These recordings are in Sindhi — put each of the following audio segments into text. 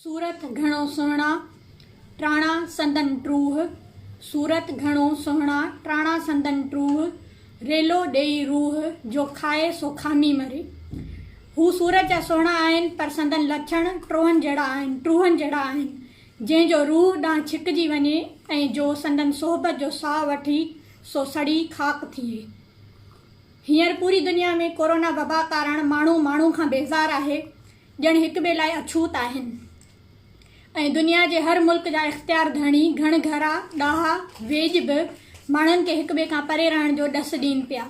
صورت گهڻو سهڻا ٽراڻا سندن ٽروه صورت گهڻو سهڻا ٽراڻا سندن ٽروه ريلو ڏيئي روح جو کائي سو کامي مري هو صورت جا سهڻا آهن پر سندن لڇڻ ٽروهن جهڙا آهن ٽروهن جهڙا آهن جنهن جو روح ڏانهن ڇڪجي وڃي ۽ جو سندن صحبت جو ساهه وٺي سو سڙي خاڪ ٿئي هينئر پوري دنيا ۾ ڪورونا وبا ڪارڻ ماڻهو ماڻهو کان بيزار آهي ڄڻ هڪ ٻئي لاء اڇوت آهن ۽ دنيا جي هر ملڪ جا اختيار ڌڻي، گهڻ گهرا، ڏاها، ويڄ به ماڻهن کي هڪ ٻئي کان پري رهڻ جو ڏس ڏين پيا.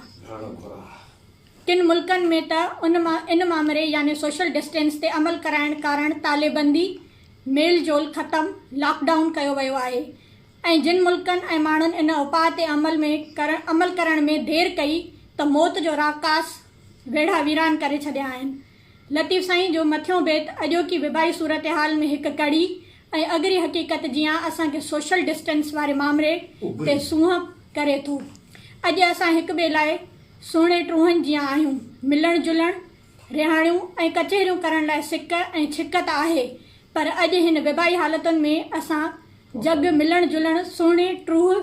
ڪن ملڪن ۾ ته ان ان مامري يعني سوشل ڊسٽينس تي عمل ڪرائڻ ڪارڻ تاليبندي، ميل جول ختم، لاڪ ڊائون ڪيو ويو آهي ۽ جن ملڪن ۽ ماڻهن ان اپاء تي عمل ۾ عمل ڪرڻ ۾ دير ڪئي ته موت جو راڪاس ويڙها ويران ڪري ڇڏيا آهن. لطيف سائين جو مٿيون بيت اڄوڪي وبائي صورتحال ۾ هڪ ڪڙي ۽ اڳري حقيقت جيان اسان کي سوشل ڊسٽنس واري مامري تي سونهن ڪري ٿو. اڄ اسان هڪ ٻئي لاء سهڻي ٽونهن جيان آهيون. ملڻ جلڻ، رهاڻيون ۽ ڪچهريون ڪرڻ لاء سڪ ۽ ڇڪ ته آهي پر اڄ هن وبائي حالتن ۾ اسان جڳ ملڻ جلڻ، سهڻي ٽوهه،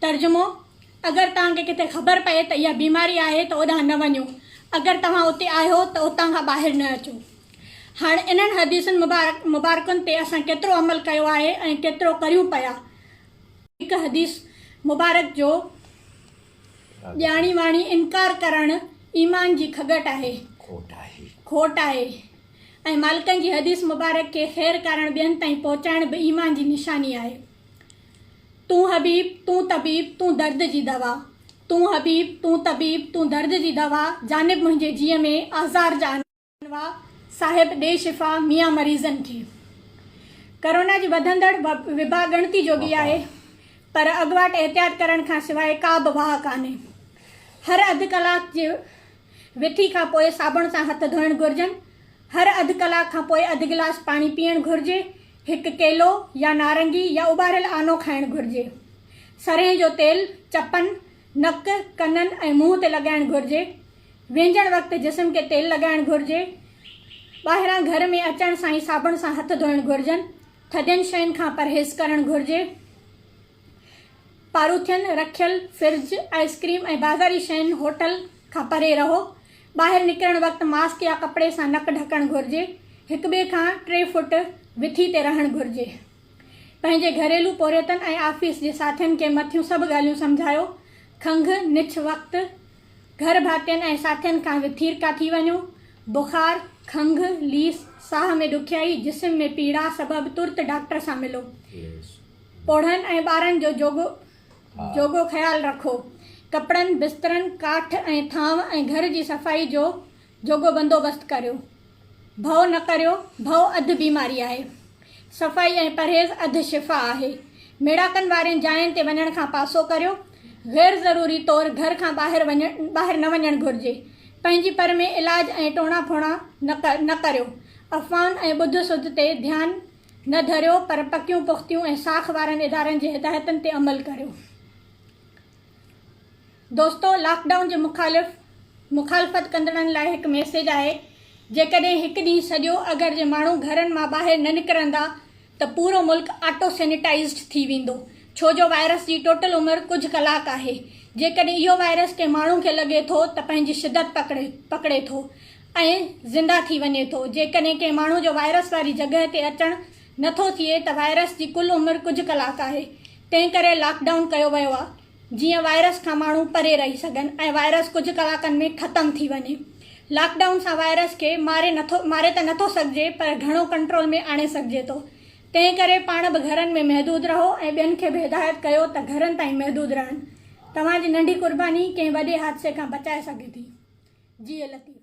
ترجمو، اگر توهان کي ڪٿي خبر پئي ته اها بيماري آهي ته اوڏانهن نه وڃو، اگر توهان اتي آهيو ته اتان کان ٻاهر نه اچو. هاڻ انهن حديثن مبارڪن تي اسان ڪيترو عمل ڪيو آهي ۽ ڪيترو ڪريون پيا؟ هڪ حديث مبارڪ جو ڄاڻي واڻي انڪار ڪرڻ ايمان جي کڳٽ آهي، کوٽ آهي، ۽ مالڪن جي حديث مبارڪ کي خير ڪارڻ ٻين تائين پهچائڻ به ايمان جي نشاني آهي. تون حبيب تون طبيب تون درد جي دوا تون حبيب تون طبيب تون درد جي دوا جانب منهنجي جيء ۾ آزار جا انواع صاحب ڏي شفا ميان مريضن کي ڪرونا جي وڌندڙ وبا ڳڻتي جوڳي آهي پر اڳواٽ احتياط ڪرڻ کان سواء ڪا به واهه ڪانهي هر اڌ ڪلاڪ جي وٿي کان پوء صابڻ سان هٿ ڌوئڻ گهرجن هر اڌ ڪلاڪ کان پوء اڌ گلاس پاڻي پيئڻ گهرجي. هڪ ڪيلو يا نارنگي يا اٻاريل آنو کائڻ گهرجي. سرهين جو تيل چپن، نڪ، ڪنن ۽ منهن تي لڳائڻ گهرجي. وينجهڻ وقت جسم کي تيل لڳائڻ گهرجي. ٻاهران گهر ۾ اچڻ سان ئي صابڻ سان هٿ ڌوئڻ گهرجن. ٿڌين شين کان پرهيز ڪرڻ گهرجي. پاروٿين، رکيل فرج، آئس ڪريم ۽ بازاري شين هوٽل کان پري رهو. ٻاهر نڪرڻ وقت ماسڪ يا ڪپڙي سان نڪ ڍڪڻ گهرجي. هڪ ٻئي کان ٽي فوٽ وٿي تي رهڻ گهرجي. پنهنجي گهريلو پورهيتن ۽ آفيس جي ساٿين کي مٿيون سڀ ڳالهيون سمجهايو. کنگهه، نڇ وقت گهر ڀاتين ۽ ساٿين کان وٿيرڪا ٿي وڃو. بخار، کنگهه، ليس، ساهه ۾ ڏکيائي، جسم ۾ پيڙا سبب ترت ڊاڪٽر سان ملو. پوڙهن ۽ ٻارن جو جوڳو جوڳو خيال رکو. ڪپڙن، بسترن، ڪاٺ ۽ ٿانء ۽ گهر جي صفائي جو جوڳو بندوبست ڪريو. ڀؤ نه ڪريو، ڀؤ اڌ بيماري آهي. صفائي ۽ پرهيز اڌ شفا آهي. ميڙاڪن وارين جاين تي وڃڻ کان پاسو ڪريو. غير ضروري طور گهر کان ٻاهر ٻاهر نه وڃڻ گهرجي. پنهنجي پر ۾ علاج ۽ ٽوڻا ڦوڻا نه ڪريو. افواهن ۽ ٻڌ سڌ تي ڌيان نه ڌريو پر پڪيون پختيون ۽ ساک وارن ادارن جي هدايتن تي عمل ڪريو. دوستو لاڪ ڊائون جي مخالف مخالفت ڪندڙن لاء هڪ ميسيج آهي جيڪڏهن هڪ ڏينهن سڄو اگر جي ماڻهو گهرن مان ٻاهر نه نڪرندا ته پورو ملڪ آٽو سينيٽائيزڊ ٿي ويندو ڇو جو وائرس جي ٽوٽل عمر ڪجهه ڪلاڪ آهي جيڪڏهن اهو وائرس ڪنهن ماڻهو کي لڳي ٿو ته پنهنجي شدت پڪڙي ٿو ۽ زنده ٿي وڃي ٿو. جيڪڏهن ڪنهن ماڻهو جو وائرس واري جڳهه تي اچڻ نه ٿو ٿئي ته وائرس جي ڪل عمر ڪجهه ڪلاڪ آهي. تنهن ڪري لاڪ ڊائون ڪيو ويو آهي جيئن وائرس کان ماڻهو پري رهي سگهن ۽ وائرس ڪجهه ڪلاڪن ۾ ختم ٿي وڃي. لاڪ ڊائون سان وائرس کي ماري ته نه ٿو سگهجي پر گهڻو ڪنٽرول ۾ آڻي سگهجي ٿو. تنهن ڪري پاڻ به گهرن ۾ محدود رهو ۽ ٻين کي به هدايت ڪيو ته گهرن تائين محدود رهن. توهان جي ننڍي قرباني ڪنهن وڏي حادثي کان بچائي سگهي ٿي. جيئي لطيف.